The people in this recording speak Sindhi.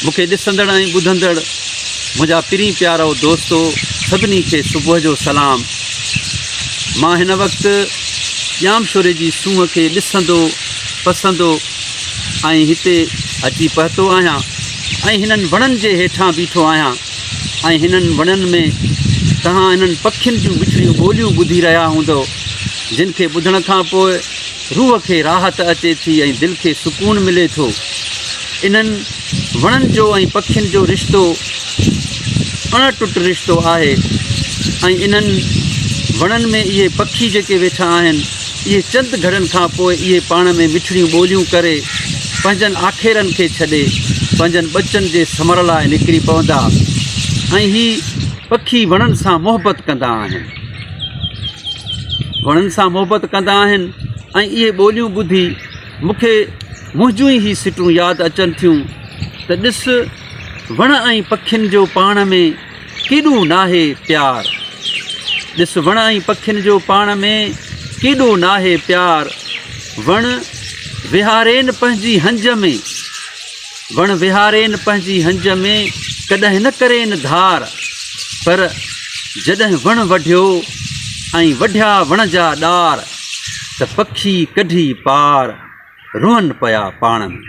مون کي ڏسندڙ ۽ ٻڌندڙ منهنجا پرين پيارو دوستو سڀني کي صبح جو سلام مان هن وقت ڄامشوري جي سونهن کي ڏسندو پسندو ۽ هتي اچي پهتو آهيان ۽ هنن وڻن جي هيٺان بيٺو آهيان ۽ هنن وڻن ۾ توهان هنن پکين جون مٺڙيون ٻوليون ٻڌي رهيا هوندو جن کي ٻڌڻ کان پوء روح کي راحت اچي ٿي ۽ دل کي سڪون ملي ٿو. انهن وڻن جو ۽ پکين جو رشتو اڻ ٽٽ رشتو آهي ۽ انهن وڻن ۾ اهي پکي جيڪي ويٺا آهن اهي چند گهڙن کان پوء اهي پاڻ ۾ مٺڙيون ٻوليون ڪري پنهنجن آکيرن کي ڇڏي پنهنجن ٻچن جي سمهڻ لاء نڪري پوندا ۽ هي پکي وڻن سان محبت ڪندا آهن. وڻن سان محبت ڪندا آهن ۽ اهي ٻوليون ٻڌي مونکي منهنجون ئي هي سٽون ياد اچن ٿيون ته ڏس وڻ ۽ پکين جو پاڻ ۾ ڪيڏو ناهي پيار ڏس وڻ ۽ پکين جو پاڻ ۾ ڪيڏو ناهي پيار وڻ وهارين پنهنجي هنج ۾ وڻ وهارين پنهنجي هنج ۾ ڪڏهن نه ڪرين ڌار پر جڏهن وڻ وڍيو ۽ وڍيا وڻ جا ڏار ته پکي ڪڍي پار روئن پيا پاڻ ۾